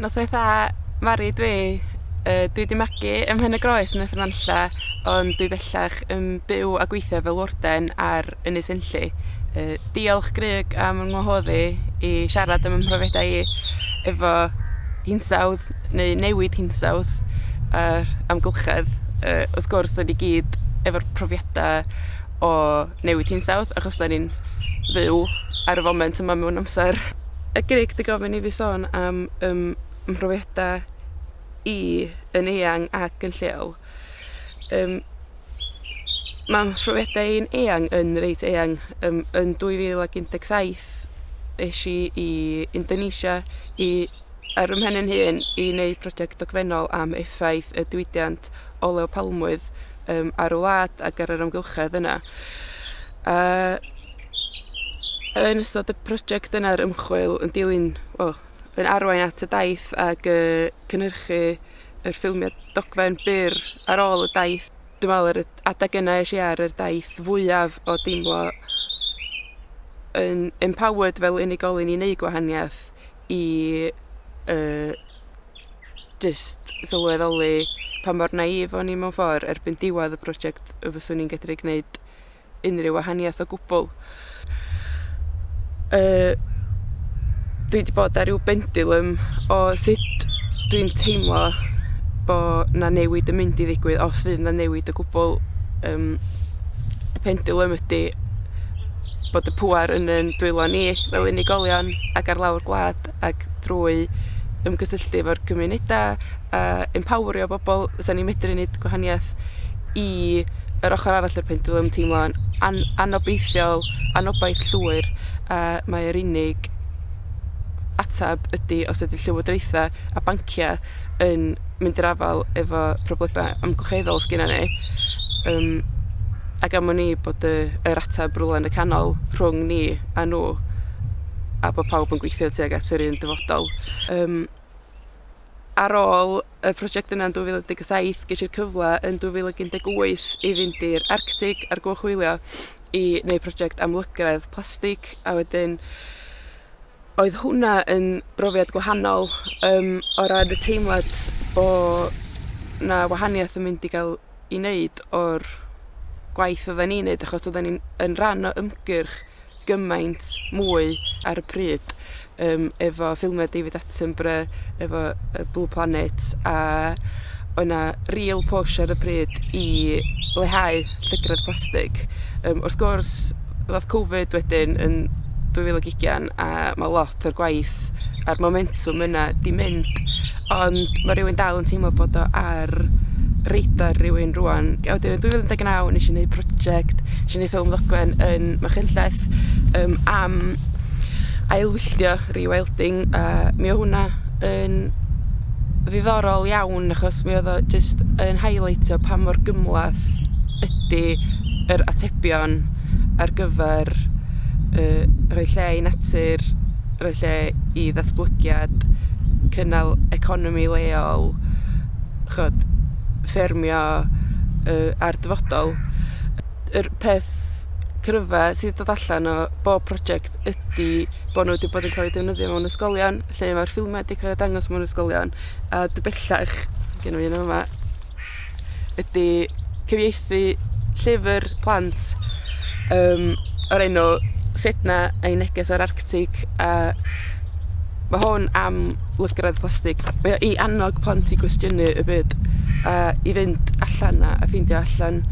Noswaith dda Mari dwi yy dwi 'di magu ym Mhen-y-groes yn y Fynanlla ond dwi bellach yn byw a gweithio fel warden ar Ynys Enlli. Yy diolch Grug am 'y ngwahodd i i siarad am 'y mhrofiadau i efo hinsawdd neu newid hinsawdd a'r amgylchedd, yy, wrth gwrs, da ni gyd efo'r profiadau o newid hinsawdd, achos da ni'n fyw ar y foment yma mewn amser. Y Grig di gofyn i fi sôn am ym mhrofiadau i yn eang ac yn lleol. Um, mae mhrofiadau i'n eang yn reit eang. Um, yn 2017 eisiau i Indonesia i ar fy mhen yn hun i wneud prosiect dogfennol am effaith y diwydiant olew palmwydd um, ar y wlad ac ar yr amgylchedd yna. A yn ystod y prosiect yna'r ymchwil yn dilyn, well, yn arwain at y daith ac y cynhyrchu yr ffilmiau dogfen byr ar ôl y daith. Dwi'n meddwl yr adeg yna eisiau ar yr daith fwyaf o deimlo yn empowered fel unigolyn i wneud gwahaniaeth i yy jyst sylweddoli pa mor naïf o'n i mewn ffordd erbyn diwedd y prosiect y fyswn i'n gedru gwneud unrhyw wahaniaeth o gwbl. Yy dwi wedi bod ar ryw bendulum o sut dwi'n teimlo bo' 'na newid yn mynd i ddigwydd os fydd 'na newid o gwbwl yym y pendulum ydi bod y pŵer yn ein dwylo ni fel unigolion ac ar lawr gwlad ac drwy ymgysylltu efo'r cymunedau a empowrio bobl fysa ni'n medru wneud gwahaniaeth i yr ochr arall o'r pendulum teimlo'n an anobeithiol, anobaith llwyr a mae'r unig atab ydy os ydy llywodraethau a banciau yn mynd i'r afael efo problemau amgylcheddol sy gennyn ni yym ac am wn i bod y yr ateb rywle yn y canol rhwng ni a nhw a bod pawb yn gweithio tuag at yr un dyfodol. Yym ar ôl y prosiect yna yn 2017 ges i'r cyfle yn 2018 i fynd i'r Arctig ar goch wylio i wneud prosiect am lygredd plastig a wedyn Oedd hwnna yn brofiad gwahanol yym o ran y teimlad bo' 'na wahaniath yn mynd i ga'l 'i neud o'r gwaith oddan ni'n neud achos oddan ni'n yn ran o ymgyrch gymaint mwy ar y pryd yym efo ffilmia David Attenborough efo yy Blue Planet a oedd 'na real push ar y pryd i leihau llygredd plastig. Um, wrth gwrs, ddodd Covid wedyn yn 2020 a mae lot o'r gwaith a'r momentum yna di mynd, ond mae rhywun dal yn teimlo bod o ar radar rhywun rwan. A wedyn yn 2019 nes i wneud prosiect, nes i wneud ffilm ddogfen yn Machynlleth um, am ailwylltio Rewilding a mi o' hwnna yn ddiddorol iawn achos mi oedd o jyst yn highlightio pa mor gymhleth ydy yr atebion ar gyfer yy rhoi lle i natur, rhoi lle i ddatblygiad, cynnal economi leol, chod, ffermio uh, a'r dyfodol. Yr peth cryfa sydd wedi dod allan o bob prosiect ydi bod nhw 'di bod yn cael eu defnyddio mewn ysgolion, lle mae'r ffilmiau 'di cael eu dangos mewn ysgolion, a dwi bellach, gen i un yma, ydi cyfieithu llyfr plant um, o'r enw Sedna a'i neges o'r Arctig, a Ma' hwn am lygredd plastig. Mae o i annog plant i gwestiynu y byd a i fynd allan a a ffeindio allan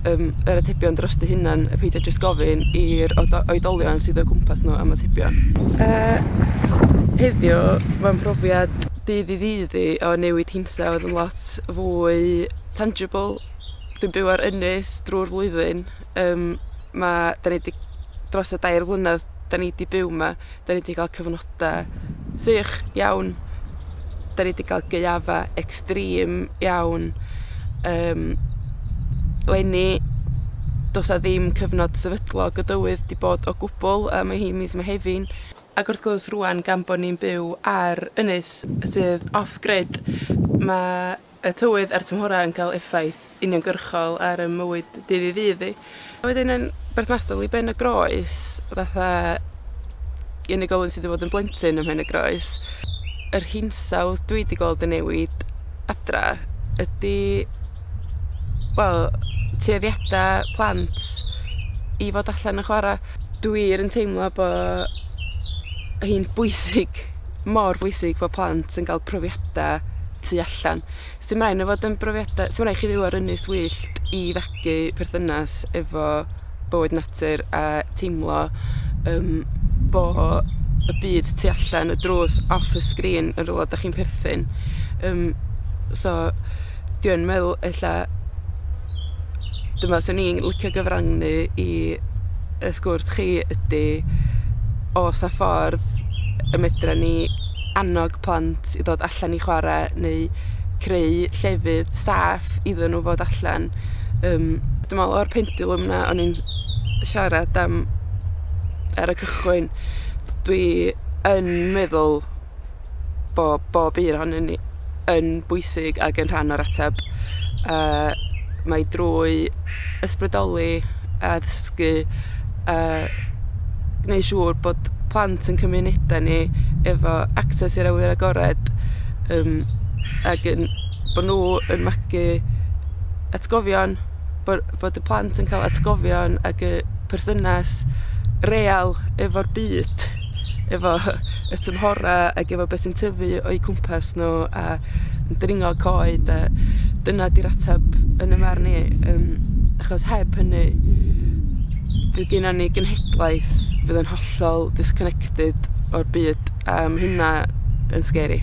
yym yr atebion dros dy hunan a peidio jyst gofyn i'r odo- oedolion sydd o gwmpas nhw am atebion. Yy heddiw mae'n profiad dydd i ddydd i o newid hinsawdd yn lot fwy tangible. Dwi'n byw ar ynys drwy'r flwyddyn Yym ma' 'dan ni 'di dros y dair flynedd 'dan ni 'di byw 'ma 'dan ni 'di ga'l cyfnoda sych iawn 'dan ni 'di ga'l gaeafa extreme iawn yym leni do's 'a ddim cyfnod sefydlog y dywydd 'di bod o gwbwl a ma' hi mis Mehefin. Ag wrth gwrs rŵan gan bo' ni'n byw ar ynys sydd off grid ma' y tywydd a'r tymhorau yn cael effaith uniongyrchol ar y mywyd dydd i ddydd i. A wedyn yn berthnasol i ben y groes, fatha unigolyn sydd wedi bod yn blentyn ym Mhen-y-groes, yr hinsawdd dwi wedi gweld yn newid adra ydy, wel, tueddiadau plant i fod allan yn chwarae. Dwi yn teimlo bod hi'n bwysig mor bwysig bod plant yn ga'l profiada tu allan. Sy'n rhaid nhw fod yn brofiada... Sy'n rhaid chi fyw ar ynys wyllt i fethu perthynas efo bywyd natur a teimlo um, bo y byd tu allan y drws off y sgrin yn rhywle da chi'n perthyn. Um, so, dwi'n meddwl ella dwi'n meddwl 'swn i'n licio gyfrannu i y sgwrs chi ydi o's 'na ffordd y medra ni annog plant i ddod allan i chwarae neu creu llefydd saff iddyn nhw fod allan yym dwi'n meddwl o'r pendulwm 'na o'n i'n siarad am ar y cychwyn dwi yn meddwl bo' bob un ohonyn ni yn bwysig ag yn rhan o'r ateb. Uh, mae drwy ysbrydoli a ddysgu uh, gwneud siŵr bod plant yn cymunedau ni efo access i'r awyr agored um, ac yn, bod nhw yn magu atgofion, bod, bod y plant yn cael atgofion ac y perthynas real efo'r byd. efo y tymhorau ac efo beth sy'n tyfu o'i cwmpas nhw a yn dringo coed a dyna di'r ateb yn y marn i. Um, achos heb hynny, bydd gen ni genhedlaeth fydd yn hollol disconnected o'r byd a mae hynna yn scary.